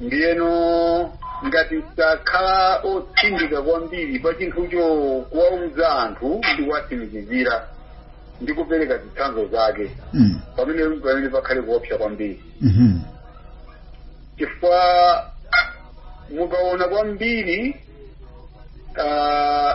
ndiyeno ngati sakhala otsindika kwambiri pa chinthucho kuwauza anthu ndi kuwatsimikizira ndi kupereka zitsanzo zake Mm. pamene pamene pakhale kuopsa kwambiri Mhm. chifukwa mukaona kwambiri ah,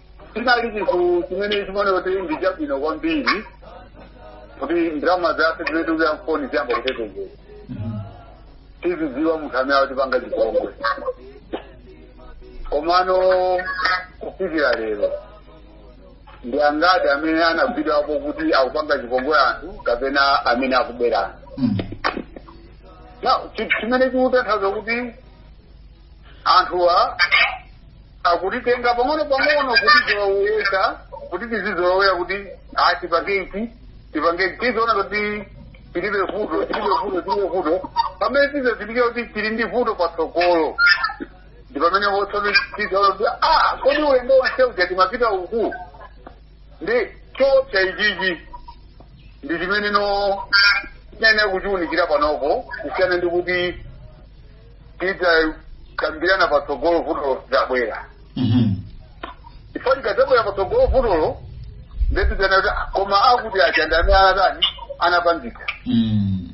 chinali chinthu chimene chimaoneka kuti ndi chabwino kwambiri kuti ndalama zathu zimene tikuyika mfoni ziyamba kutetezera tizidziwa munthu amene akutipanga chipongwe komano kufikira lero ndi angati amene anagwidwapo kuti akupanga chipongwe anthu kapena amene akuberana chimene chikutanthauza kuti anthuwa akutitenga pang'ono pang'ono kuti tiwawuyeka kuti tizizolowera kuti a tipange ichi tipange ichi tiziona kuti tilibe vuto tilibe vuto tilibe vuto pamene tizazindikire kuti tili ndi vuto patsogolo ndi pamene tiziona kuti a kodi ulendo wonse uja timapita uku ndi choopsa ichichi ndi chimene nofunika kuchiunikira panopo kusiyana ndi kuti tidzakambirana patsogolo vutolo litabwera Mhm. chifukwa likadzabwera patsogolo vutolo nde tizanena kuti ah, koma akuti aja ndani anatani anapangika Mm.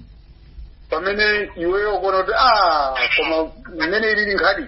pamene iweyo ukuona kuti ah koma mmene ilili nkhani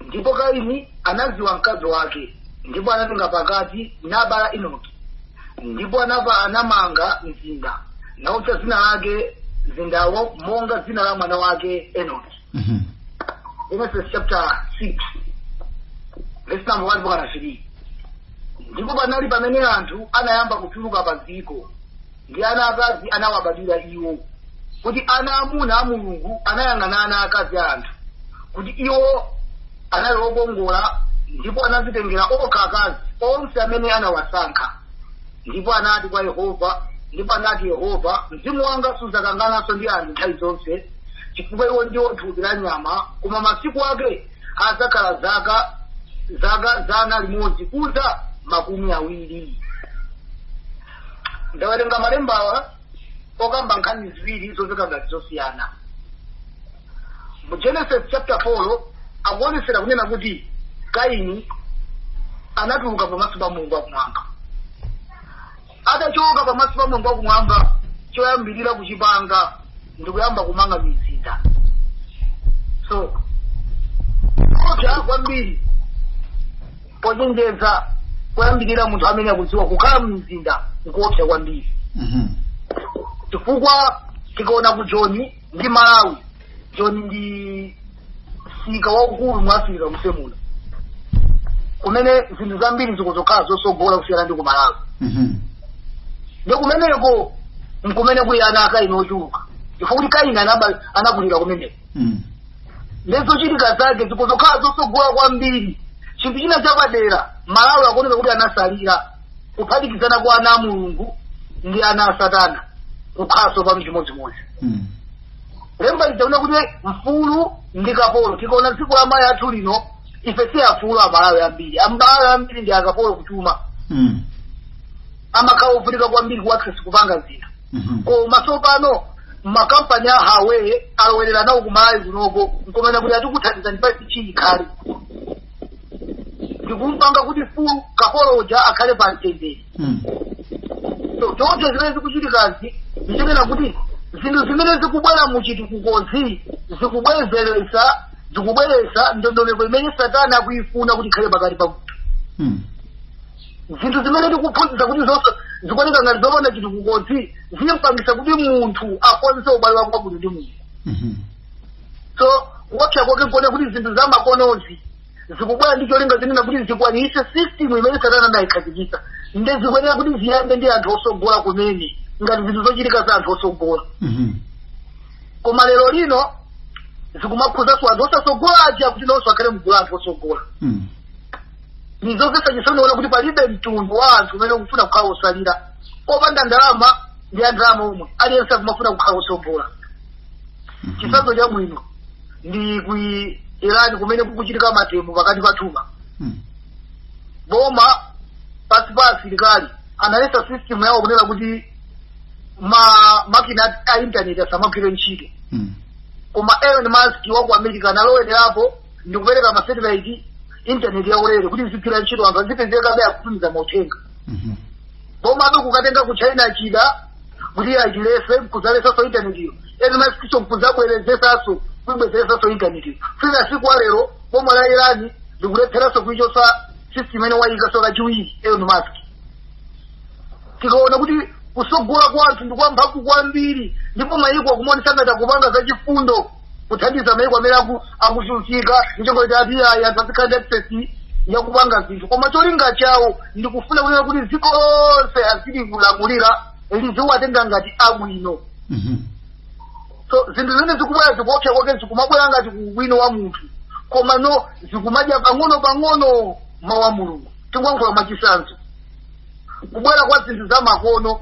ndipo kaini anadziwa mkazi wake ndipo anatenga pakati nabala enoki ndipo anapa anamanga mzinda nautcha dzina lake mzindawo monga dzina la mwana wake enoki Mhm. genesis chapter 6 verse number 1 mpaka 3 ndipo panali pamene anthu anayamba kuchuluka pa dziko ndi ana akazi anawabadwira iwo kuti ana amuna a mulungu anayang'ana ana akazi a anthu kuti iwo anali okongola ndipo anazitengera okha akazi onse amene anawasankha ndipo anati kwa yehova ndipo anati yehova mzimu wanga sudzakangananso ndi anthu nthawi zonse chifukwa iwo ndiwo thupi la nyama koma masiku ake adzakhala zaka zaka zana limodzi kudza makumi awiri ndawerenga malembawa okamba nkhani ziwiri zomveka ngati zosiyana mu genesis chapter 4 akuonetsera kunena kuti kaini anatuluka pamaso pa mulungu wakumwamba atachoka pamaso pa mulungu wakumwamba choyambirira kuchipanga ndikuyamba kumanga mizinda so koopsa kwambiri pochenjeza kuyambira munthu amene akudziwa kukhala mmizinda nkoopsa kwambiri Mhm. chifukwa tikaona ku joni ndi malawi joni ndi msika waukulu mu africa muno kumene zinthu zambiri zikuzokhala zosogola kusiyana ndi kumalawi Mhm. ndi kumeneko nkumene kuli ana akaini ochuluka chifukwa kuti kaini anaba- anakulira kumeneko Mm. nde zochitika zake zikuzokhala zosogola kwambiri chinthu china chapadera malawi akuoneka kuti anasalira kuphatikizana kwa ana a mulungu ndi ana a satana kukhalanso pano chimodzimodzi Mm. lemba likunena kuti mfulu ndi kapolo tikaona dziko la malawi lathu lino ife si afulu amalawi ambiri amalawi ambiri ndi akapolo kuchuma Mm. amakhala ovutika kwambiri kuaccess kupanga zinthu Mhm. koma tsopano makampani a huawei alowerera nawo kumalawi kunoko nkumanena kuti atikuthandiza ndi pasi chii khali ndikumpanga kuti mfulu kapolo uja akhale pa mtendere Mm. So, choncho zimene zikuchitikazi ndichonena kuti zinthu zimene zikubwera mu chitukukozi zikubwezeretsa zikubweretsa ndondomeko imene satana akuyifuna kuti ikhale pakati pa munthu Mm. zinthu zimene tikuphunzitsa kuti zonse zikuoneka ngati zopanda chitukukozi zimpangisa kuti munthu akonze ubale wake wabwino ndi mulungu Mhm. so kuopsa kwake nkuona kuti zinthu zamakonozi zikubwera ndi cholinga chonena kuti zikwanitse system imene satana anayikhazikitsa nde zikuyenera kuti ziyambe ndi anthu osogola kumene ngati zinthu zochitika za anthu osogola Mhm. koma lero lino zikumakhuzanso anthu osasogola aja kuti nawonso akhale mgulu la anthu osogola Mm. ndizomvetsa chisoni kuona kuti palibe mtundu wa anthu umene ukufuna kukhala osalira opanda ndalama ndi andalama omwe aliyense akumafuna kukhala osogola chitsanzo chabwino ndi ku irani kumene kukuchitika mademo pakati pa boma Mm. boma pasi pa asilikali analesa system yawo kunena kuti ma makina a- a intaneti asamagwire ntchito Mm. koma elon musk wa ku america analowererapo ndi kupereka masatellite intaneti yaulere kuti izigwira ntchito anthu azipezekabe akutumiza mauthenga Mhm. boma kukatenga ku china chida kuti akailese mkuzalesaso intanetiyo elon muskso mkuzabwerezesaso kuibwezeresaso intanetiyo fika siku la lero boma la irani likulepheraso kuichosa system imene wayikaso kachiwiri elon musk tikaona kuti kusogola kwa anthu ndi kwamphamvu kwambiri ndipo mayiko akumaonesa ngati akupanga zachifundo kuthandiza maiko amene aku- akuvutika n'cholinga kuti ati ayi anthu azikhala ndi access yakupanga zinthu koma cholinga chawo ndikufuna kunena kuti dziko lonse azili kulamulira liziwatenga ngati abwino Mhm. so zinthu zimene zikubwera zikuopsa kwake zikumabwera ngati ubwino wa munthu komano zikumadya pang'ono pang'ono mawu a mulungu tingoyankhula mwachitsanzo kubwera kwa zinthu za makono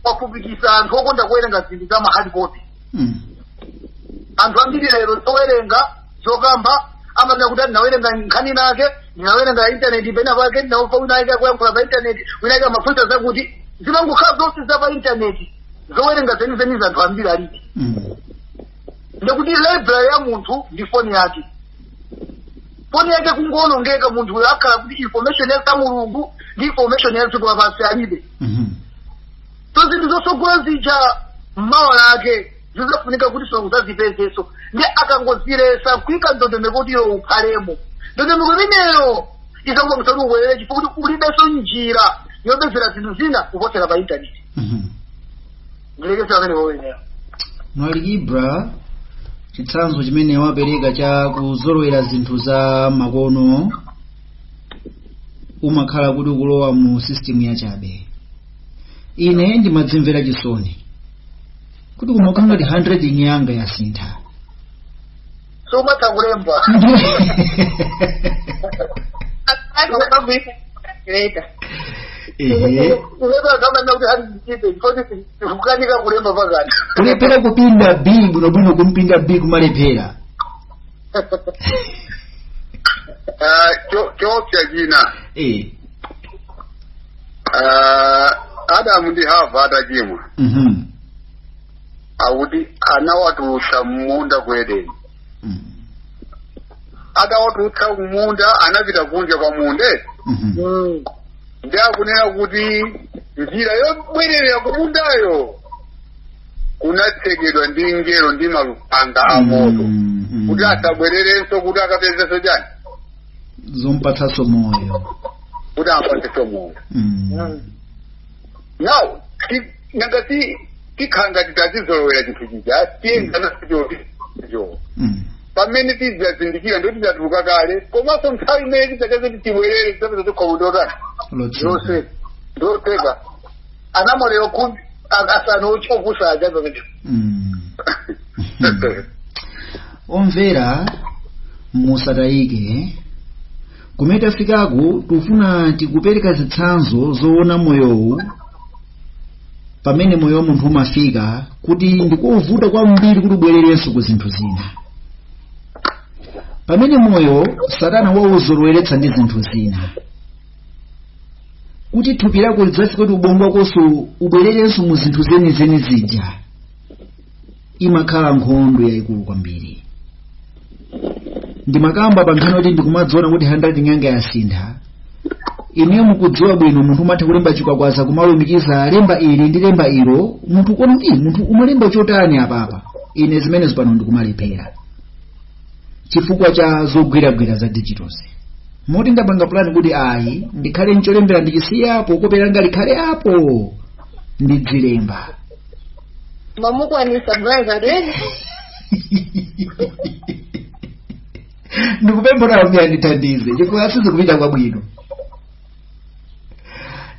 kwafupikisa anthu okonda kuwerenga zinthu za mahard copy Mm. anthu ambiri lero zowerenga zokamba amanena kuti ndinawerenga nkhani inayake ndinawerenga pa intaneti pena pake ndinamva wina ake akuyankhula pa intaneti wina ake amafunsa zakuti zimangokhala zonse za pa intaneti zowerenga zenizeni za anthu ambiri alibe Mm. ndikuti library ya munthu ndi foni yake foni yake kungoonongeka munthu uyo akhala kuti information ya mulungu ndi information ya dziko lapansi alibe Mhm. so zinthu zotsogola zija mmawa lake zizafunika kuti so kuzazipezanso ndi akangozilesa kuika ndondomeko kuti iwe ukhalemo ndondomeko imeneyo izakupangisa kuti ubwerere chifukwa kuti ulibenso njira yopezera zinthu zina kuposera pa intaneti Mhm. ndilekeze pamenepo mbale ibra chitsanzo chimene wapereka cha kuzolowera zinthu za makono umakhala kuti ukulowa mu system yachabe ine ndimadzimvera chisoni kuti kumakhala ngati handwriting yanga yasintha sumathanso kulemba ehe kulemba zamanena kuti hali ndichipe chifoti sikukanika kulemba pakati kulephera kupinda b bwinobwino kumpinda b kumalephera Ah, cho- choopsa china eh Ah, adamu ndi hava atachimwa Mhm. akuti anawatulutsa m'munda ku edeni Mhm. atawatulutsa kumunda anapita kunja kwa munda Mhm. Mm. ndi akunena kuti njira yobwerera kumundayo kunatsekedwa ndi mngelo ndi malupanga a moto Mhm. kuti asabwererenso kuti akapezenso chani zompatsanso moyo kuti ampatsenso moyo Mm. now ti- nanga tikhala ngati tazizolowera chinthu chija tiyenda nachonso Mm. pamene tizazindikira ndo tizatuluka kale komanso nthawi imene tizayese kuti tibwerere tizapeza chikhomo ndotani lotseka lotseka lotseka anamwalira khumi a- asanu ochi- opusa aja pamene Mm. omvera musatayike kumene tafikaku tikufuna tikupereka zitsanzo zoona moyowu pamene moyo wa munthu umafika kuti ndikovuta kwambiri kuti ubwererenso ku zinthu zina pamene moyo satana wauzoloweretsa ndi zinthu zina kuti thupi lako lidzafika kuti ubongo wakonso ubwererenso mu zinthu zenizeni zija imakhala nkhondo yayikulu kwambiri ndimakamba pa nkhani kuti ndikumadziona kuti handwriting yanga yasintha ineyo mukudziwa bwino munthu umatha kulemba chikwakwaza kumalumikiza lemba ili ndi lemba ilo munthu kuona kuti munthu umalemba chotani apapa ine zimenezo pano ndikumalephera chifukwa cha zogwiragwira za digitozi moti ndapanga pulani kuti ayi ndikhale ncholembera ndichisiya apo kope langa likhale apo ndidzilemba mmene ndikukwanitsa brother redi ndikupempha kuti ambuye andithandize chifukwa sizikupita kwabwino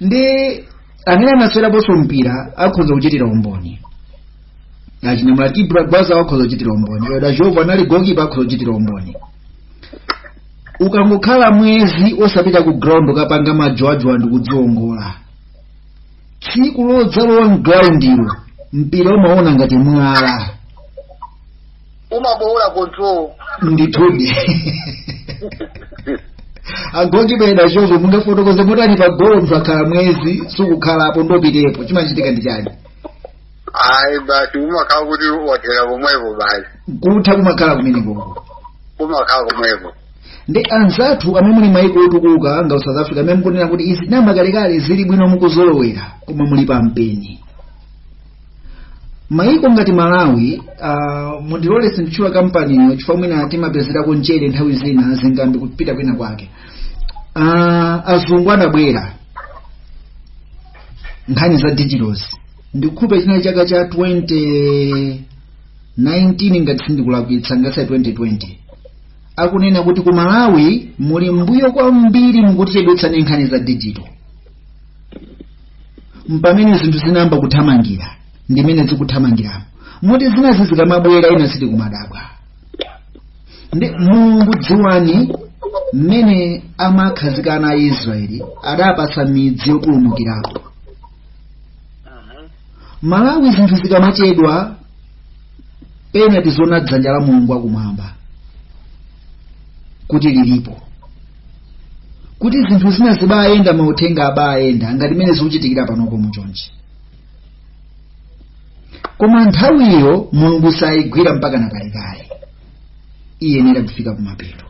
ndi amene anasewerapo nso mpira akhoza kuchitira umboni achinyamata ibra gwaza wakhoza kuchitira umboni yoda jova anali gokipa akhoza kuchitira umboni ukangokhala mwezi osapita ku ground osapanga majowajowa ndi kudziongola tsiku lodzalowa mgroundilo mpira umaona ngati mwala umabowola control ndithudi agokipa yoda jova mungafotokoze motani pa golo mutakhala mwezi osakhalapo ndipitepo chimachitika ndi chani ayi basi umakhala kuti wathera komwepo basi kutha kumakhala kumeneko umakhala komwepo ndi anzathu amene muli maiko otukuka ngati south africa amene mukunena kuti izi tinayamba kalekale zili bwino mukuzolowera koma muli pa mpeni maiko ngati malawi uh, mundilole sinditchula kampaniyo chifukwa mwina timapezerako mchere nthawi zina zingambi kupita kwina kwake uh, azungu anabwera nkhani za digitozi ndikukhulupira chinali chaka cha 2019 ngati sindikulakwitsa ngati si 2020 akunena kuti ku malawi muli m'mbuyo kwambiri mukutichedwetsa ndi nkhani za digito mpamene zinthu zinayamba kuthamangira mmene zikuthamangiramo moti zinazi zikamabwera ina sitikumadabwa ndi mulungu dziwani mmene amakhazika ana a israeli adapatsa midzi yopulumukirapo Mhm. malawi zinthu zikamachedwa pena tizona dzanja la mulungu akumwamba kuti lilipo kuti zinthu zina zibayenda mauthenga abayenda ngati mmene zikuchitikira panopo muchonchi koma nthawiyo mulungu sayigwira mpaka na kalekale iyenera kufika kumapeto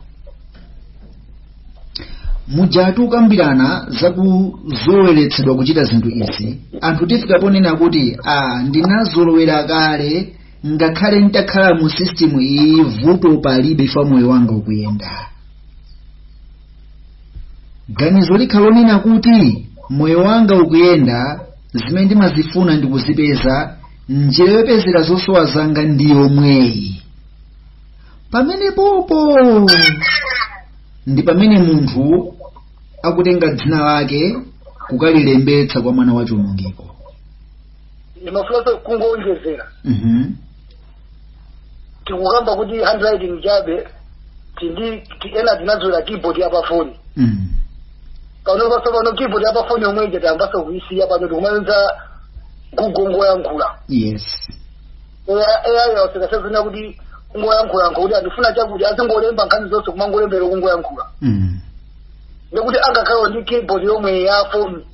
mujatu timakambirana zakuzoloweretsedwa kuchita zinthu izi anthu tifika ponena kuti a ndinazolowera kale ngakhale nditakhala mu system iyi vuto palibe ife moyo wanga ukuyenda ganizo likhala lonena kuti moyo wanga ukuyenda zimene ndimazifuna ndikuzipeza njira yopezera zosowa zanga ndi yomweyi pamenepopo ndi pamene munthu akutenga dzina lake kukalilembetsa kwa mwana wa chiwonongeko ndimafunanso kungowonjezera Mhm. tikukamba kuti handwriting chabe tindi ti- ena tinazolowera keyboard ya pafoni Mm. pano posopano keyboard ya pafoni yomwe ija tayambaso kuisiya pano tikumayenza google kungoyankhula yes ai awasekasazina kuti kungoyankhula yankho kuti a ndifuna chakuti azingolemba nkhani zonse kumangolembera kungoyankhula mm. ndekuti angakhale ndi keyboard yomwe ya foni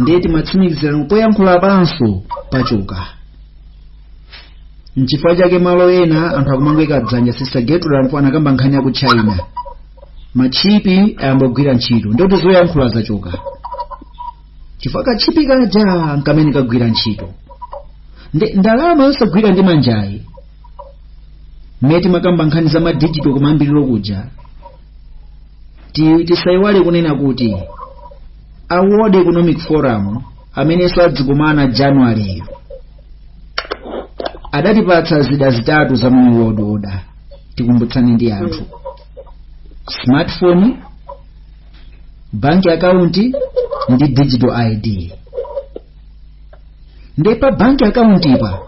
ndiye timatsimikizirano poyankhula panso pachoka nchifukwa chake malo ena anthu akumangweka dzanja sister gertrude anakamba nkhani ya ku china matchipi ayambogwira ntchito ndikuti zoyankhula zachoka chifukwa katchipi kaja nkamene kagwira ntchito nde ndalama yosagwira ndi manjayi mmene timakamba nkhani za madijito kumayambiriro kuja Ti- tisayiwale kunena kuti a world economic forum amenenso adzikumana januwaleyo adatipatsa zida zitatu za new world order tikumbutsane ndi anthu smartphone bank account ndi digital id ndi pa banki akauntipa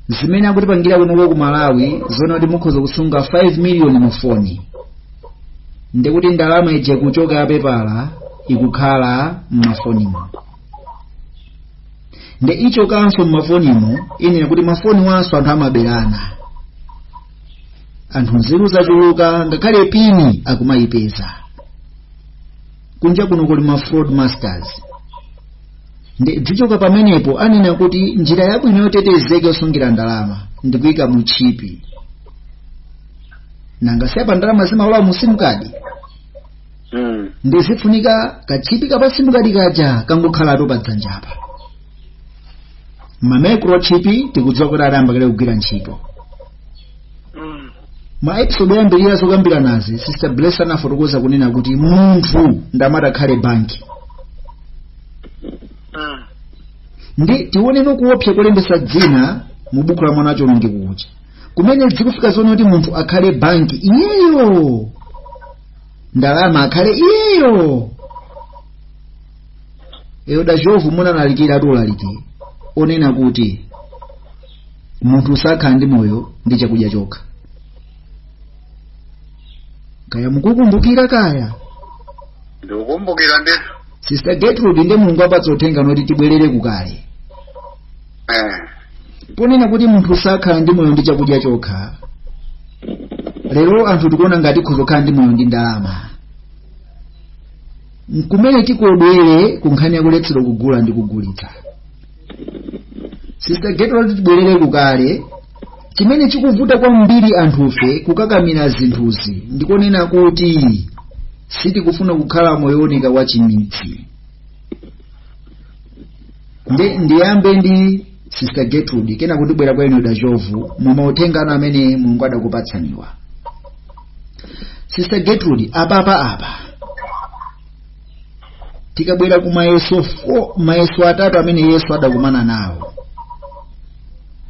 zimene akutipangira kunoko ku malawi zonena kuti mukhoza kusunga 5 miliyoni mu foni ndikuti ndalama ija kuchoka ya pepala ikukhala m'mafonimo nde ichokanso m'mafonimo anena kuti mafoniwanso anthu amaberana anthu nzeru zachuluka ngakhale pini akumayipeza kunja kuno kuli ma fraud masters nde dzichoka pamenepo anena kuti njira yabwino yotetezeka yosungira ndalama ndikuyika mu chipi nanga si apa ndalama zimalowa mu sim card mm. ndiye zifunika kachipi kapa sim card kaja kangokhalatu pa dzanjapa ma microchip tikudziwa kuti adayamba kale kugwira ntchito ma episode oyambirira zokambiranazi sister bless anafotokoza kunena kuti munthu ndi amene atakhale banki nde tioneno kuopsa kolembesa dzina mu buku la mwana wachionongeko kuja kumene zikufika zonena kuti munthu akhale banki iyeyo ndalama akhale iyeyo eyo dachovu munalalikiratu ulaliki onena kuti munthu sakhala ndi moyo ndi chakudya chokha kaya mukukumbukira kaya ndikukumbukira ndithu sister gertrude nde mulungu apatsa uthenga woti tibwerere kukale eh ponena kuti munthu sakhala ndi moyo ndi chakudya chokha lero anthu tikuona ngati tikhoza kukhala ndi moyo ndi ndalama nkumene tikodwere ku nkhani yakuletsedwa kugula ndi kugulitsa sister gertrude tibwerere kukale chimene chikuvuta kwambiri anthufe kukakamira zinthuzi ndikonena kuti sitikufuna kukhala moyo wooneka wa chimidzi nde ndiyambe ndi sister gertrude kenako ndibwera kwa inu dachovu mumauthenga anu amene mulungu adakupatsaniwa sister gertrude apapa apa tikabwera ku mayeso fo- mayeso atatu amene yesu adakumana nawo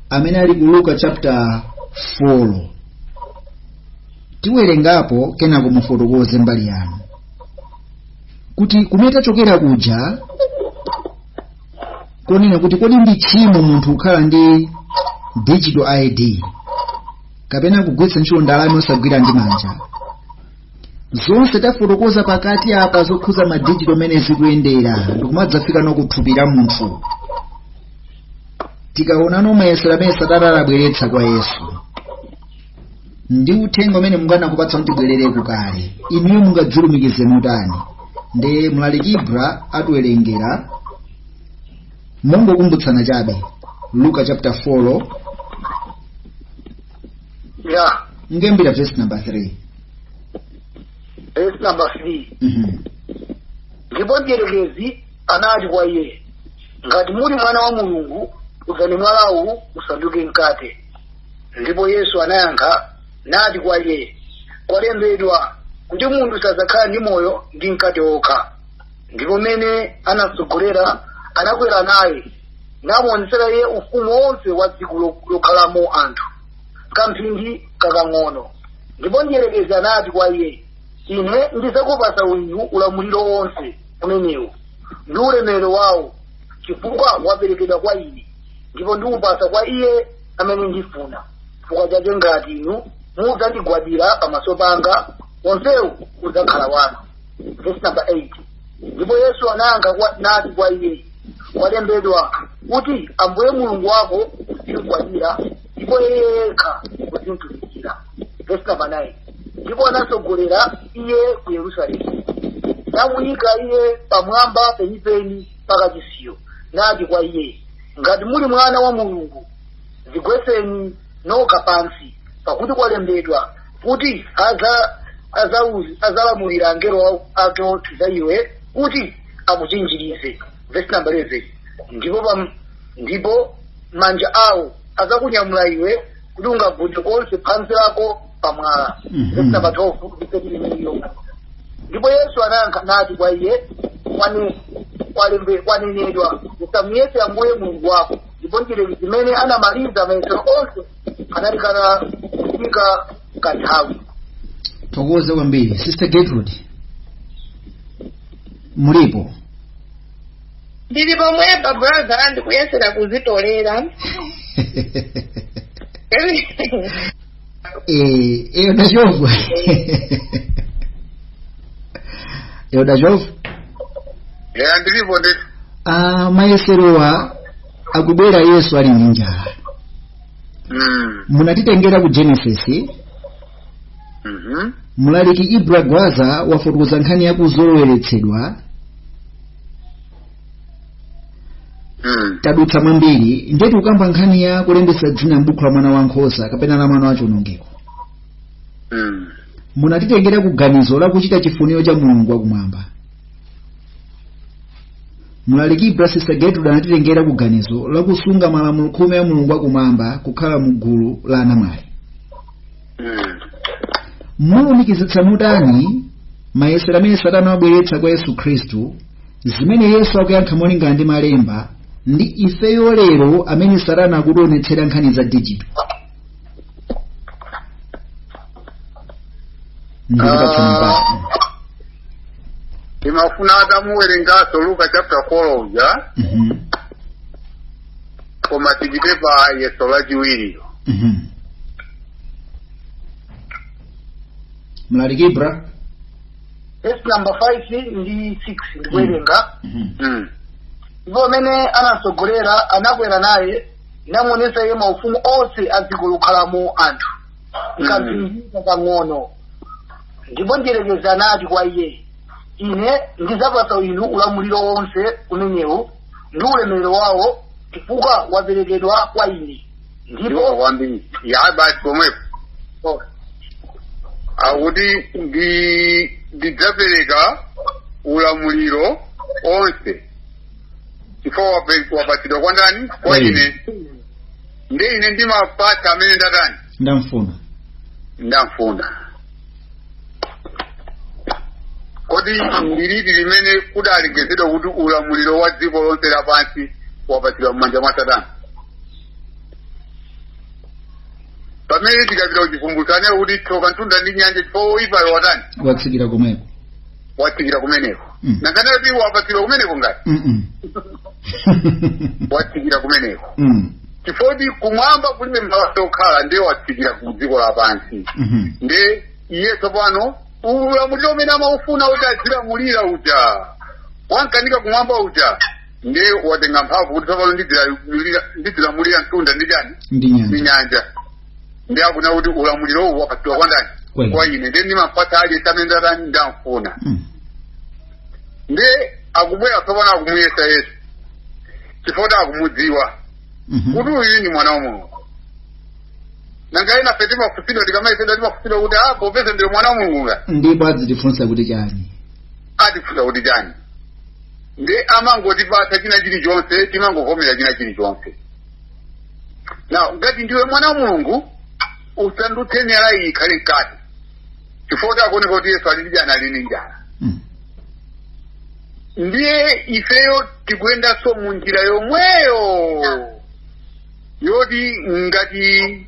amene ali ku luka chapter 4 tiwerengapo kenako mufotokoze mbali yanu kuti kumene tachokera kuja konena kuti kodi ndi tchimo munthu kukhala ndi digital id kapena kugwiritsa ntchito ndalama osagwira ndi manja zonse tafotokoza pakati apa zokhuza madijito mmene zikuyendera ndikumadzafika nokuthupi la munthu tikaona mayesero amene satana anabweretsa kwa yesu ndi uthenga umene mulungu anakupatsani kuti tibwerere kukale inuyo mungadzilumikize motani nde mlaliki ibra atiwerengera mongokumbutsana chabe luka chapter 4 Yeah. mundiimbira verse number 3 Verse number three. Mhm. ndipo mdierekezi anati kwa iye ngati muli mwana wa mulungu uzani mwalawu usanduke mkate ndipo yesu anayankha nati kwa iye kwalembedwa kuti munthu sadzakhala ndi moyo ndi mkate wokha ndipo mmene anatsogolera anakwera naye namuonetsera iye ufumu wonse wa dziko lo- lokhalamo anthu kamphindi kakang'ono ndipo mdierekezi anati kwa iye ine ndizakupasa inu ulamuliro wonse umenewu ndi ulemerero wawo chifukwa waperekedwa kwa ine ndipo ndiupasa kwa iye amene ndifuna chifukwa chake ngati inu mudzandigwadira pamaso panga wonsewu udzakhala wanu verse number 8 ndipo yesu anayankha kwa- nati kwa iye kwalembedwa kuti ambuye mulungu wako uzimgwadira ndipo iye yekha uzimtumikira verse number 9 ndipo anatsogolera iye ku yerusalemu namuyika iye pamwamba penipeni pakachisiyo nati kwa iye ngati muli mwana wa mulungu zigwetseni nokha pansi pakuti kwalembedwa kuti adza- adzauz- adzalamulira angelo wa- ake onse za iwe kuti akuchinjirize vesi namba 11 ndipo pam- ndipo manja awo adzakunyamula iwe kuti ungagunde konse phazi lako pamwala Mhm. vesi namba 12 ndipo imeneyo ndipo yesu anayankha nati kwa iye "Kwane- kwalembe- kwanenedwa usamuyese ambuye mulungu wako ndipo mdierekezi mmene anamaliza mayesero onse analekana kufika kanthawi tithokoze kwambiri sister gertrude mulipo ndili pomwepa brother ndikuyesera kuzitolera eh eh udachova eh udachova ya ndilipo ndi ah mayeserowa akubwera yesu ali ndi njala mm munatitengera ku genesis mhm mlaliki ibra gwaza wafotokoza nkhani yakuzoloweretsedwa Mm. tadutsa mwambiri ndiye tikukamba nkhani ya kulembetsa dzina m'buku la mwana wankhosa kapena la mwana wachionongeko Mm. munatitengera ku ganizo la kuchita chifuniro cha mulungu wakumwamba mlaliki ibra sister gertrude anatitengera ku ganizo la kusunga malamulo khumi a mulungu wakumwamba kukhala mu gulu la anamwali Mm. mulumikizitsa motani mayesero amene satana wabweretsa kwa yesu khristu zimene yesu akuyankha molingana ndi malemba ndi ifeyo lero amene satana akutionetsera nkhani za dijito ndikupatsa mpata nimafuna atamuwerengaso luka chapter 4 uja Mhm. koma tipite pa yeso lachiwiri Mhm. mlaliki bra vesi namba 5 ndi 6 ndikuwerenga Mhm. Mm. ndipo amene anatsogolera anakwera naye namuonetsa iye maufumu onse a dziko lokhalamo anthu m'kamphindi kang'ono ndipo mdierekezi anati kwa iye ine ndidzapatsa inu ulamuliro wonse umenewu ndi ulemerero wawo chifukwa waperekedwa kwa ine ndipo ndipo kwambiri ya basi pomwepo oh, akuti ndidzapereka ulamuliro onse chifukwa wapatsidwa kwa ndani kwa Kwa ine. ine ndiye ine ndimapatsa amene ndatani ndamfuna ndamfuna kodi ndi liti limene kudalengezedwa kuti ulamuliro wa dziko lonse lapansi wapatsidwa m'manja mwa satana pamene tikapita kuchivumbulutso amanena kuti tsoka mtunda ndi nyanja chifukwa woipayo watani watsikira kumeneko watsikira kumeneko Mm. nanganitu kuti wapatsidwa kumeneko ngati Mm-mm. watsikira kumeneko Mm. chifoti kumwamba kulibe malo okhala ndiye watsikira ku dziko lapansi Mhm. nde iye tsopano ulamuliro umene amaufuna kuti adzilamulira uja wamkanika kumwamba uja nde watenga mphamvu kuti tsopano ndidzilamulira mtunda ndi chani ndi ndi nyanja nyanja nde akunena kuti ulamuliro uwu wapatsidwa kwa ndani kwa ine nde ndimapatsa aliyense amene ndatani ndamfuna Mm. nde akubwera tsopano akumuyesa yesu chifukwa akumudziwa Mhm. kuti uyu ndi mwana wa mulungu nanga ena ife timafunsidwa tikamayesedwa timafunsidwa kuti a popeza ndiwe mwana wa mulungu nga ndipo adzitifunsa kuti chani atifunsa kuti chani nde amangotipatsa china chilichonse timangovomera china chilichonse now ngati ndiwe mwana wa mulungu usandutse miyala iyi ikhale mkate chifukwa akuoneka kuti yesu ali ndi njala ali ndi njala Mm. ndiye ifeyo tikuyendanso mu njira yomweyo yoti ngati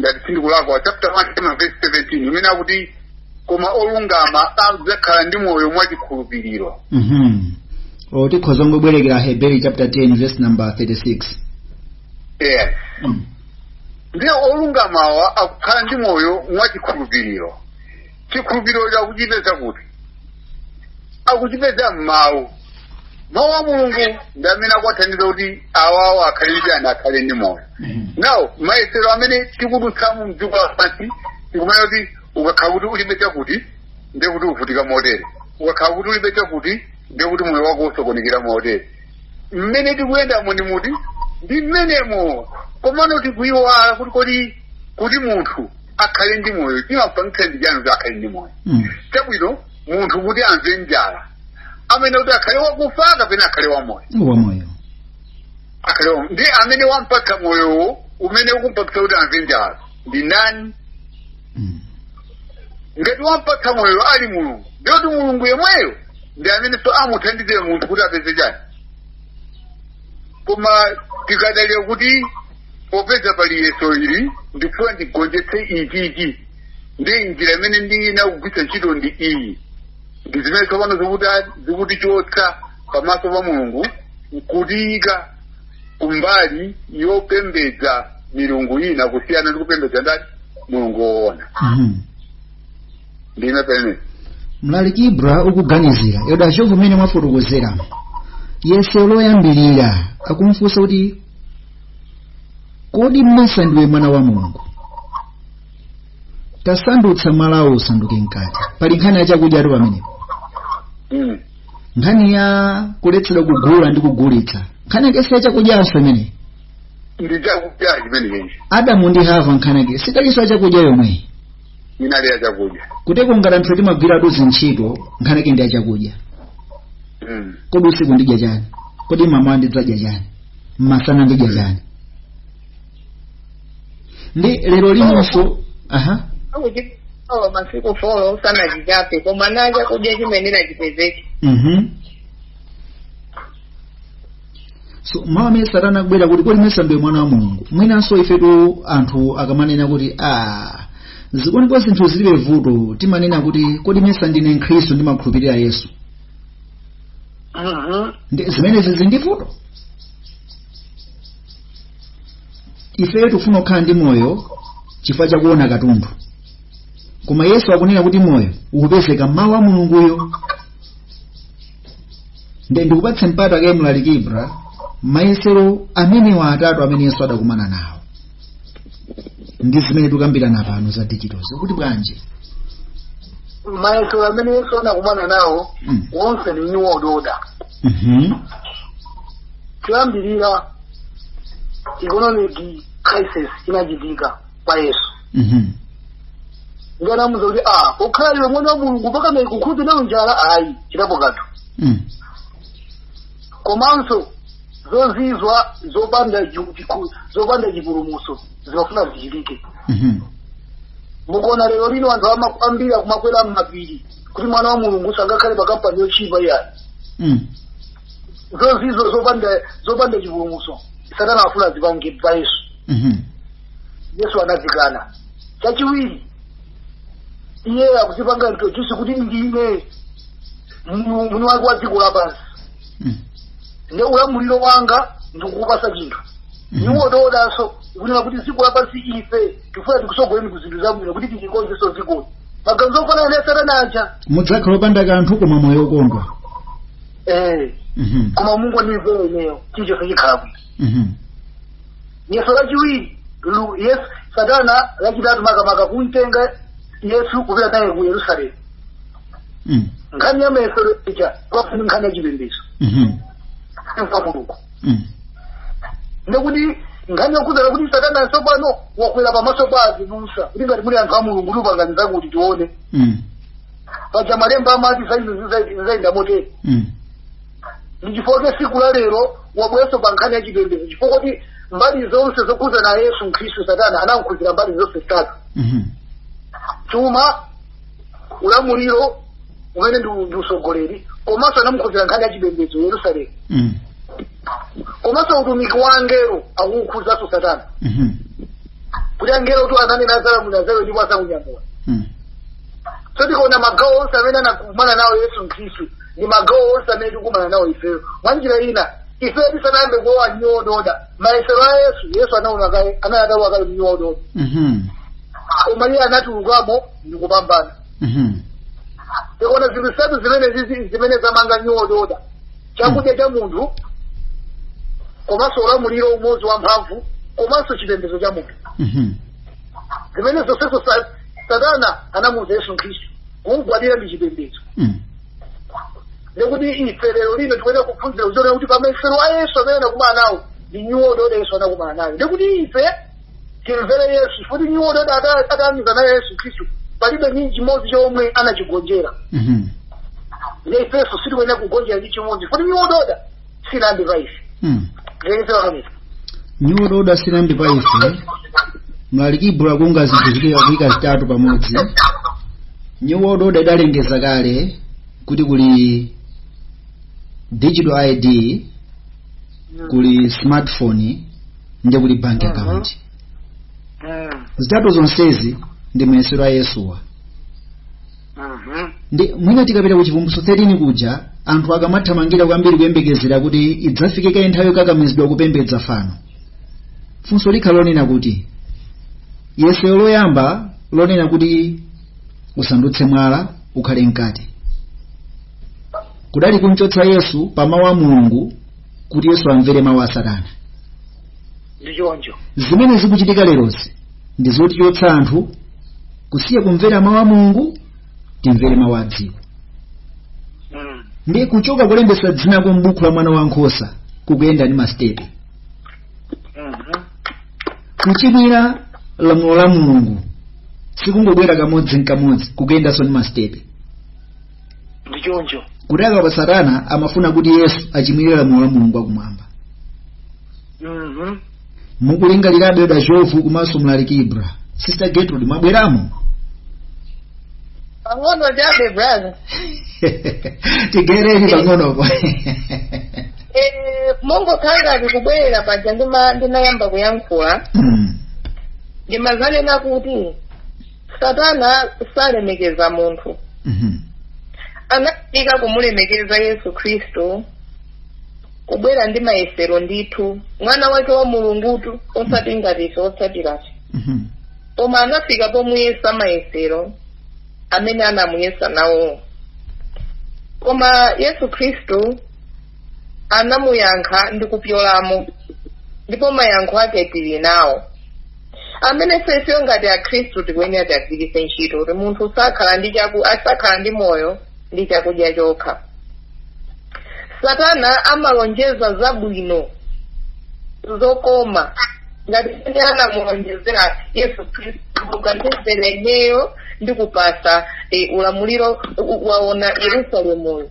ngati sindikulakwa chapter 1 cha ma verse 17 imene akuti koma olungama adzakhala ndi moyo mwa chikhulupiriro Mhm. o tikhoza kungobwerekera Aheberi chapter 10 verse number 36 yes Mm. ndiye olungamawa akukhala ndi moyo mwa chikhulupiriro chikhulupiriro cho akuchipeza kuti akuchipeza mmawu mawu a mulungu ndi amene akuwathandiza kuti awawo akhale ndi chani akhale ndi moyo now mayesero amene tikudutsamo mdziko lapansi tikumati ukakhala kuti ulibe chakuti ndiye kuti uvutika motere ukakhala kuti ulibe chakuti ndiye kuti moyo wako usokonekera motere mmene tikuyendamo mmitu ndi mmenemo komano tikuyiwala kuti kodi kuti munthu akhale ndi moyo chimapangitsa ndi chani kuti akhale ndi moyo Mm. chabwino munthu kuti amve njala amene kuti akhale wakufa kapena akhale wamoyo akhale wamoyo ndi amene wampatsa moyowo umene ukumpatsa kuti amve njala ndi ndani Mm. ngati wampatsa moyo ali mulungu ndiye kuti mulungu yemweyo ndi amenenso amuthandize munthu kuti apeze chani koma tikadalira kuti popeza pali yeso ili ndifuna ndigonjetse ichi ichi ndi njira imene ndiyenera kugwiritsa ntchito ndi iyi ndi zimene tsopano zikutichotsa pamaso pa mulungu nkutiyika kumbali yopembedza milungu ina kusiyana ndi kupembedza ndani mulungu woona Mhm. ndiye pena mlaliki ibra ukuganizira yoda ndi mmene mwafotokozera yeso loyambirira akumfunsa kuti kodi mesa ndiwe mwana wa mulungu tasandutsa mwalawu usanduke mkate pali nkhani ya chakudyatu pamenepo Mm. nkhani ya kuletsedwa kugula ndi kugulitsa nkhani yake si ya chakudyanso imeneyi ndi chakudya chimenechi adamu ndi hava nkhani yake sidalinso ya chakudya yomweyi inali ya chakudya kotero ngati anthu timagwiratu zi ntchito nkhani yake ndi yachakudya mm. kodi usiku ndidya chani kodi mmawa ndidzadya chani mmasana ndidya chani ndi lero linonso aha akuti oh, masiku folo sanachichape koma na chakudya chimene nachipezeke mhm so mawu amene satana akubwera kuti kodi mesa ndiwe mwana wa mulungu mwinanso ifetu anthu akamanena kuti a zili bo zinthu zilibe vuto timanena kuti kodi mesa ndine mkhristu ndimakhulupirira yesu Mhm. Ndi- zimenezi zilibe vuto ife tikufuna kukhala ndi moyo chifukwa chakuona kanthu koma yesu akunena kuti moyo ukupezeka mmawu a mulunguyo nde ndikupatse mpata kaye mlaliki ibra mayesero amenewa atatu amene yesu adakumana nawo ndi zimene tikukambirana pano za digital zo kuti bwanji mayesero amene yesu anakumana nawo Mm. wonse ndi new world order Mhm. kuyambirira economic crisis inachitika pa yesu Mhm. ndiye anamuuza kuti a pokhala iwe mwana wa mulungu mpaka kukhudzidwa nayo njala ayi chitapo kanthu Mm. komanso zozizwa zopanda ju- chiku- zopanda chipulumuso zimafuna zichitike Mhm. mukuona lero lino anthu ama- ambiri akumakwera mmapiri kuti mwana wa mulungu sangakhale pa kampani yochipa iyayi Mm. zozizwa zopanda zopanda chipulumuso satana afuna azipange pa yesu Mhm. yesu anazikana chachiwiri iye akuzipanga introduce kuti ndine mnu- mwini wake wa dziko lapansi Mm. ndi ulamuliro wanga ndikukupasa chinthu Mhm. new world order-nso kunena kuti dziko lapansi ife tifuna tikusogoleni ku zinthu zabwino kuti tilikonzenso dzikoli maganizo ofanana ndi satana aja mudzakhala opanda kanthu koma moyo wokondwa eh Mhm. koma mungondimvera ineyo chilichonse chikhala bwino Mhm. yeso lachiwiri lu- yesu satana lachitatu makamaka kumtenga yesu kupita naye ku yerusalemu Mm. nkhani ya mayesero ija kwafuna nkhani ya chipembedzo Mhm. kwa mulungu Mm. ndekuti nkhani yokhuzana kuti satana tsopano wakwera pamaso pa azibusa kuti ngati muli anthu a mulungu tipangireni zakuti tione Mm. paja malemba amati za izo zizayenda motere Mm. ndi chifukwa siku la lero wabweranso pa nkhani ya chipembedzo chifukwa kuti mbali zonse zokhuzana ndi yesu mkhristu satana anamkhuzira mbali zonse zitatu Mhm. chuma ulamuliro umene ndi ndi usogoleri komanso anamkhuzira nkhani ya chipembedzo yerusalemu Mm. komanso utumiki wa angelo akuwukhuzanso satana Mhm. kuti angelo tu ananena azalamulira za iwe ndipo azakunyamula Mm. so tikaona magawo onse amene anakumana nawo yesu mkhristu ndi magawo onse amene tikumana nawo ifeyo mwa njira ina ifeyo tisanayambe kulowa mu new world order mayesero a yesu yesu anaona kale anali atalowa kale mu new world order Mhm. koma iye anatulukamo ndi kupambana Mhm. tikuona zinthu zitatu zimene zizi- zimene zamanga new world order chakudya cha munthu komanso ulamuliro umodzi wa mphamvu komanso chipembedzo cha munthu Mhm. zimene zonsezo sa- satana anamuuza yesu khristu kumgwadira ndi chipembedzo Mm. ndekuti ife lero lino tikuyenera kuphunzira kuziona kuti pamayesero a yesu amene anakumana nawo ndi new world order yesu anakumana nayo ndekuti ife timvere yesu kuti new world order ata- atayamiza nayo yesu khristu palibe ndi chimodzi chomwe anachigonjera Mhm. ne ifenso sitikuyenera kugonjera ndi chimodzi kuti new world order silambe pa ife Hmm. zilekesera kamisa nyudo oda silambe pa ife mlaliki ibulo akuunga zinthu zikuika kuika zitatu pamodzi new world order idalengeza kale kuti kuli digital id kuli smartphone ndi kuli bank account zitatu zonsezi ndi mayesero a yesuwa Mhm. ndi mwina tikapita ku chivumbulutso 13 kuja anthu akamathamangira kwambiri kuyembekezera kuti idzafike kaye nthawi yokakamizidwa kupembedza fano funso likhala lonena kuti yesero loyamba lonena kuti usandutse mwala ukhale mkate kudali kumchotsa yesu pa mawu a mulungu kuti yesu amvere mawu a satana ndi choncho zimene zikuchitika lerozi ndi zotichotsa anthu kusiya kumvera mawu a mulungu timvere mawu a dziko Mm. ndi kuchoka kulembesa dzinako m'buku la mwana wa nkhosa kukuyenda ndi masitepe Mhm. kuchimwira lamulo la mulungu sikungobwera kamodzi nkamodzi kukuyendanso ndi masitepe ndi choncho kuti apa satana amafuna kuti yesu achimwire lamulo la mulungu wakumwamba Mhm. mukulingalirabe brother jovu komanso mlaliki ibra sister gertrude mwabweramo pang'ono chabe brother tigereni pang'onopo Eh, mongokhala ngati kubwerera paja ndima- ndimayamba kuyankhula Mm. ndimanena kuti satana salemekeza munthu Mhm. anakanika kumulemekeza yesu khristu kubwera ndi mayesero ndithu mwana wake wa mulungutu osati ngati ife otsatirafe Mhm. koma anafika pomuyesa mayesero amene anamuyesa nawowo koma yesu khristu anamuyankha ndi kupyolamo ndipo mayankho ake tili nawo amene ifeyo ngati akhristu tikuyenera tiagwiritse ntchito kuti munthu sakhala ndi chaku asakhala ndi moyo ndi chakudya chokha satana amalonjeza zabwino zokoma ngati mene anamulonjezera yesu khristu ukandimvera ineyo ndikupasa eh, ulamuliro u- u- waona yerusalemuyu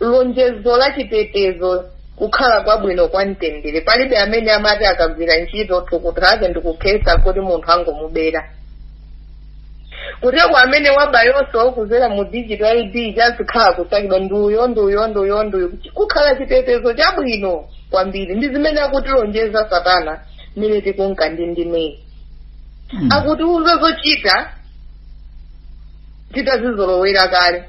lonjezo la chitetezo kukhala kwabwino kwa mtendere palibe amene amati akagwira ntchito thukuta lake ndikukhetsa kuti munthu angomubera kuteko amene wabayonso kudzera mu digital id adzikhala kusakidwa nduyo nduyo nduyo nduyo kukhala chitetezo chabwino kwambiri ndi zimene akutilonjeza satana mmene tikunka ndi ndimeyi akutiuza zochita titazizolowera kale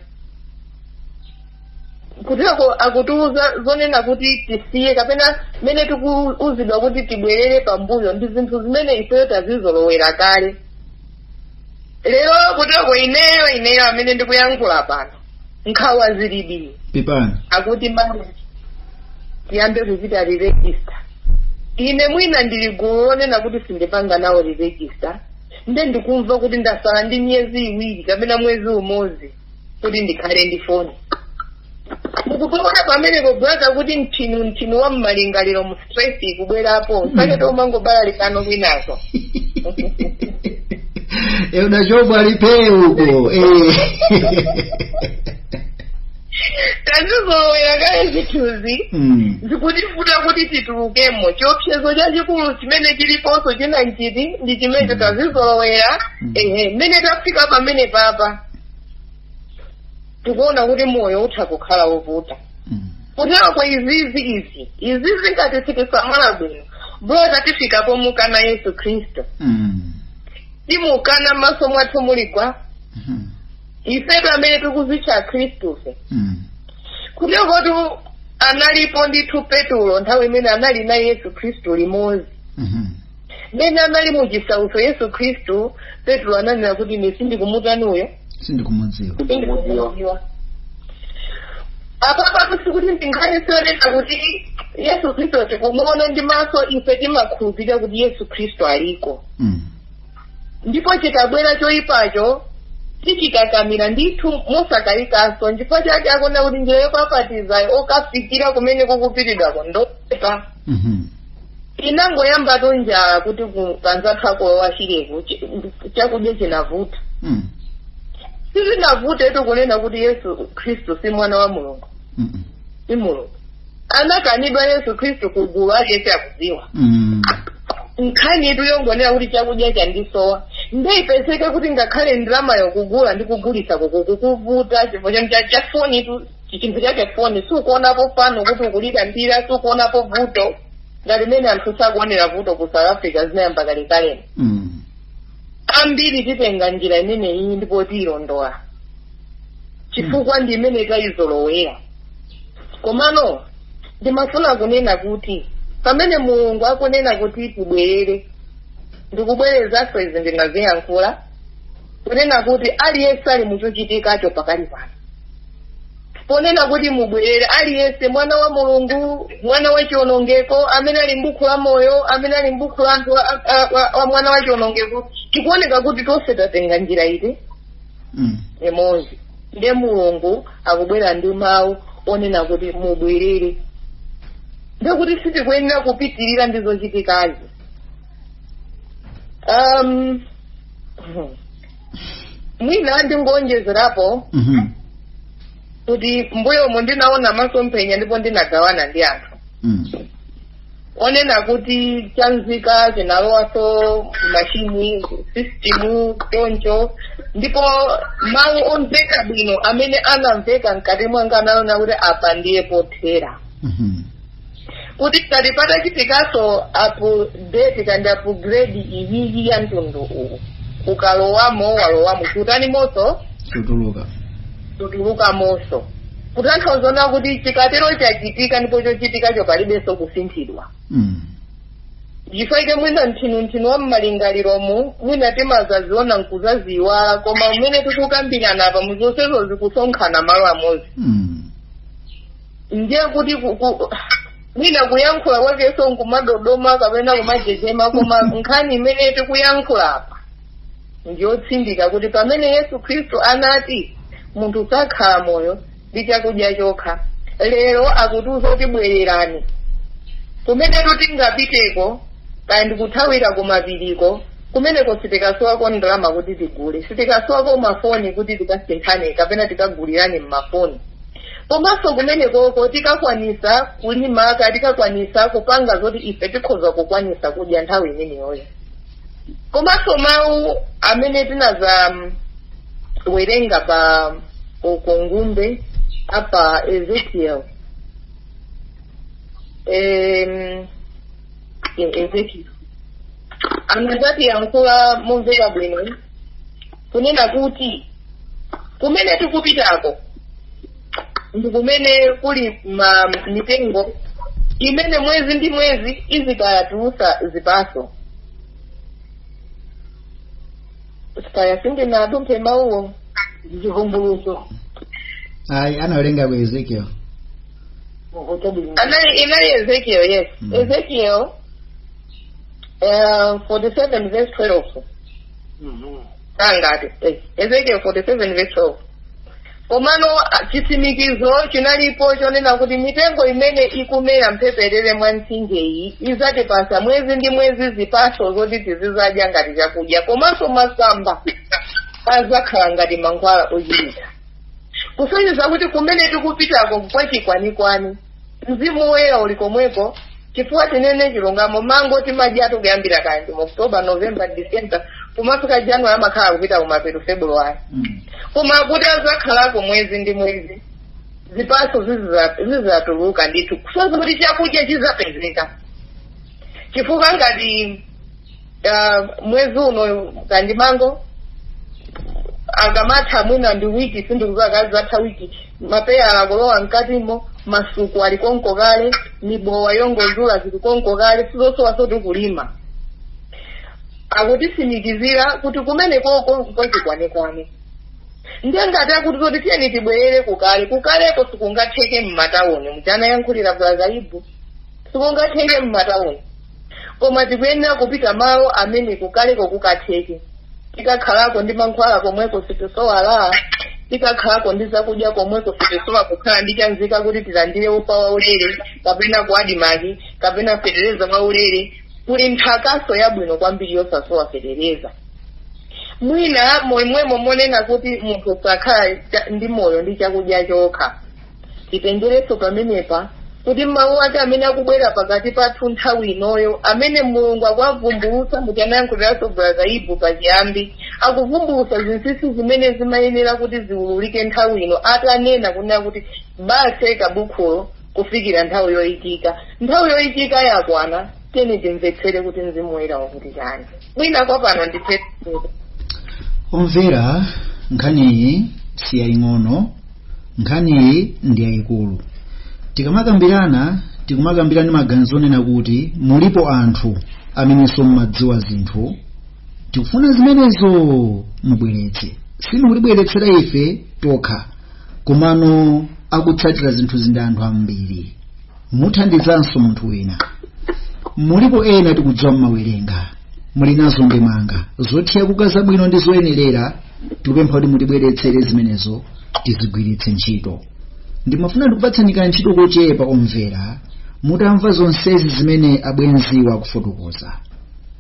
kuteko akutiuza zonena kuti tisiye kapena zimene tikuuzidwa kuti tibwerere pambuyo ndi zinthu zimene ifeyo tazizolowera kale lero kuteko ineyo ineyo amene ndikuyankhula pano nkhawa zilibi pepani akuti mama tiyambe kuchita re-register ine mwina ndili gulu lonena kuti sindipanga nawo re-register nde ndikumva kuti ndasala ndi miyezi iwiri kapena mwezi umodzi kuti ndikhale ndi foni mukuona pamenepo brother kuti mthinu mthinu wa mmalingaliro mu stress ikubwerapo sake tomangobalalikanso kwinazo e unachobwa lipee huko eh. tazizolowera kale zithunzi Mm. zikutivuta kuti titulukemo chiopsezo chachikulu chimene chiliponso china nchiti ndi chimene tazizolowera Mm. ehe mmene tafika pamene papa tikuona kuti moyo utha kukhala wovuta Mm. kutero kwa izizi izi izizi ngati sitisamala bwino brother tifika pomukana yesu khristu Mm. timukana mmaso mwathu muli gwa Mhm. ifetu amene tikuzitcha akhristufe Mm. kutero kotu analipo ndithu petulo nthawi imene anali naye yesu khristu limodzi Mhm. mmene anali mu chisautso yesu khristu petulo ananena kuti ine sindikumutani uyo sindikumudziwa sindikumudziwa apapatu sikuti ndi nkhani zonena kuti yesu khristu tikumuona ndi maso ife timakhulupirira kuti yesu khristu aliko Mm. ndipo chikabwera choyipacho tichikakamira ndithu mosakayikanso nchifukwa chake akunena kuti njira yopapatizayo okafikira kumene kukupitidwako ndochepa Mhm. inangoyambatu njala kuti ku- kanzathu akuwo achireku chi- chakudya chinavuta Mm. sizinavutetu kunena kuti yesu khristu si mwana wa mulungu Mhm. si mulungu anakanidwa yesu khristu ku gulu ake sakudziwa Mm. nkhani itu yongonera kuti chakudya chandisowa nde ipezeka kuti ngakhale ndalama yokugula ndi kugulitsa kukukuvuta chifukwa chanu cha- cha foni itu chinthu chake foni sukuonapo pano kuti ukulira mbira sukuonapo vuto ngati mmene anthu sakuonera vuto ku south africa zinayamba kalekalelo Mm. ambiri titenga njira imeneyi ndipo tiyilondola chifukwa ndi imene tayizolowera komano ndimafuna kunena kuti pamene mulungu akunena kuti tibwerere ndikubwerezanso izi ndinaziyankhula kunena kuti aliyense ali muchochitikacho pakali pano ponena kuti mubwerere aliyense mwana wa mulungu mwana wa chionongeko amene ali m'buku la moyo amene ali m'buku la anthu a- a- a- wa mwana wa chionongeko tikuoneka kuti tonse tatenga njira iti Mm. imodzi ndiye mulungu akubwera ndi mawu onena kuti mubwerere ndiye kuti sitikuyenera kupitirira ndi zochitikazi um, mwina ndingonjezerapo Mhm. kuti mbuyomu ndinaona masomphenya ndipo ndinagawana ndi anthu Mm. onena kuti chanzika chinalowaso machine system choncho ndipo mawu omveka bwino amene anamveka mkati mwanga anali onena kuti apa ndiye pothera Mhm. kuti tikati patachitikaso update kandi upgrade iyiyi ya mtundu uwu ukalowamo walowamo kutani moso kutuluka kutulukamonso kutanthauza zonena kuti chikatero chachitika ndipo chochitikacho palibenso kusinthidwa Mm. chifukwa chake mwina nthinunthinu wa mmalingaliromu mwina timazaziona nkuzaziyiwala koma mmene tikukambirana apa muzonsezo zikusonkhana malo amodzi Mm. ndiye kuti ku- ku- mwina kuyankhula kwakenso nkumadodoma kapena kumajejema koma nkhani imene tikuyankhula apa ndiyotsindika kuti pamene yesu khristu anati munthu sakhala moyo ndi chakudya chokha lero akutiuza kuti bwererani kumene tingapiteko kaya ndikuthawira kumapiriko kumeneko sitikasowako ndalama kuti tigule sitikasowako mafoni kuti tikasinthane kapena tikagulirane mmafoni komanso kumenekoko tikakwanisa kulimako tikakwanisa kupanga zoti ife tikhoza kukwanisa kudya nthawi imeneyoyo komanso mawu amene tinazawerenga pa ukongumbe apa ezekiel Em, ezekiel anazatiyankhula momveka bwino kunena kuti kumene tikupitako ndi kumene kuli ma mitengo imene mwezi ndi mwezi izikayatulusa zipaso kaya sindinadumphe mawuwo zivumbuluso ayi anawerenga ku ezekiel anali inali ezekiel yes Mm. ezekiel uh, 47 verse 12 ngati eh, ezekiel 47 verse 12 komano ah, chitsimikizo chinalipo chonena kuti mitengo imene ikumera mphepete mwa mtsinjeyi idzatipasa mwezi ndi mwezi zipatso zoti tizizadya ngati chakudya komanso masamba azakhala ngati mankhwala ochirira kusonyeza kuti kumene tikupitako kwa chikwanikwani mzimu woyera uli komweko chifukwa tinene chilungamo mango timadyatu kuyambira kandi mu october november december kumafika january amakhala akupita kumapeto february Mm. koma kuti azakhalako mwezi ndi mwezi zipatso zizatuluka ndithu kusonyeza kuti chakudya chizapezeka chifukwa ngati Ah, mwezi uno kaya ndi mango akamatha mwina ndi wiki sindikuziwa kaya atha wiki mapeyala akulowa mkatimo masuku ali konko kale mibowa yongozula zili konko kale sizosowa zoti kulima akutitsimikizira kuti kumene kuja nkwachikwanekwane ndiye ngati akuti zoti tiyeni tibwerere kukale kukaleko sikungatheke mmatawuni muja anayankhulira brother ibu sikungatheke mmatawuni koma tikuyenera kupita malo amene kukaleko kukatheke tikakhalako ndi mankhwala komweko sitisowa tikakhalako ndi zakudya komweko sitisowa kukhala ndi chanzika kuti tilandire ufa waulere kapena ku ADMARC kapena fetereza waulere kuli nthakaso yabwino kwambiri yosasowa fetereza mwina momwemo monena kuti munthu sakhala ndi moyo ndi chakudya chokha titengerenso pamenepa kuti mawu ake amene akubwera pakati pathu nthawi inoyo amene mulungu akuwavumbulutsa muja anayankhuliraso brother ibu pachiyambi akuvumbulutsa zinsinsi zimene zimayenera kuti ziwululike nthawi ino atanena kunena kuti bisa kabukhulo kufikira nthawi yoyikika nthawi yoyikika yakwana tiyeni timvetsere kuti mzimu woyera ukuti chani mwina kwa pano ndithere omvera nkhaniyi siyaying'ono nkhaniyi ndi yayikulu tikamakambirana tikumakambirana ndi maganizo onena kuti mulipo anthu amenenso mumadziwa zinthu tikufuna zimenezo mubweretse simutibweretsera ife tokha komano akutsatira zinthu izi ndi anthu ambiri muthandizanso munthu wina mulipo ena tikudziwa mumawerenga muli nazo ndemanga zothira kuka zabwino ndi zoyenerera tikupempha kuti mutibweretsere zimenezo tizigwiritse ntchito ndimafuna ndikupatsani kantchito kochepa omvera mutamva zonsezi zimene abwenziwa akufotokoza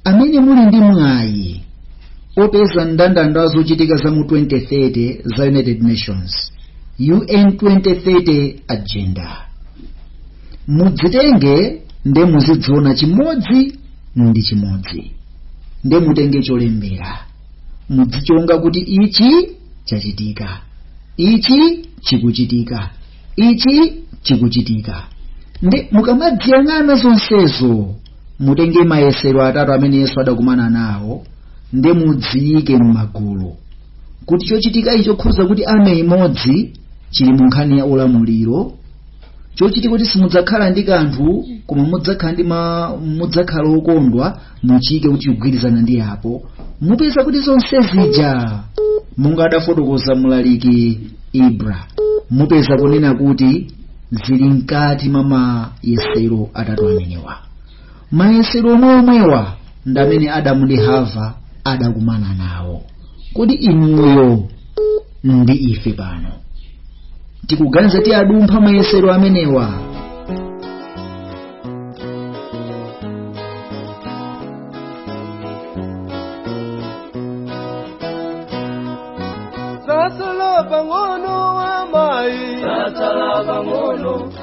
amene muli ndi mwayi opeza mndandanda wa zochitika za mu 2030 za united nations UN 2030 Agenda. Mudzitenge nde muzidziona chimodzi ndi chimodzi. Nde mutenge cholembera. Mudzichonga kuti ichi chachitika. Ichi chikuchitika. Ichi chikuchitika. Nde mukamadziyang'ana zonsezo mutenge mayesero atatu amene Yesu adakumana nawo nde mudziyike m'magulu. kuti chochitikachi chokhuza kuti army imodzi chili mu nkhani ya ulamuliro chochitika kuti simudzakhala ndi kanthu koma mudzakhala ndi ma mudzakhala okondwa muchiike kuti chigwirizana ndi apo mupeza kuti zonse zija monga adafotokoza mlaliki ibra mupeza kunena kuti zili mkati mwa mayesero atatu amenewa mayesero omwe omwewa ndamene adamu ndi hava adakumana nawo kodi inuyo ndi ife pano tikuganiza tiwadumpha mayesero amenewa Zatsala pang'ono amayi zatsala pang'ono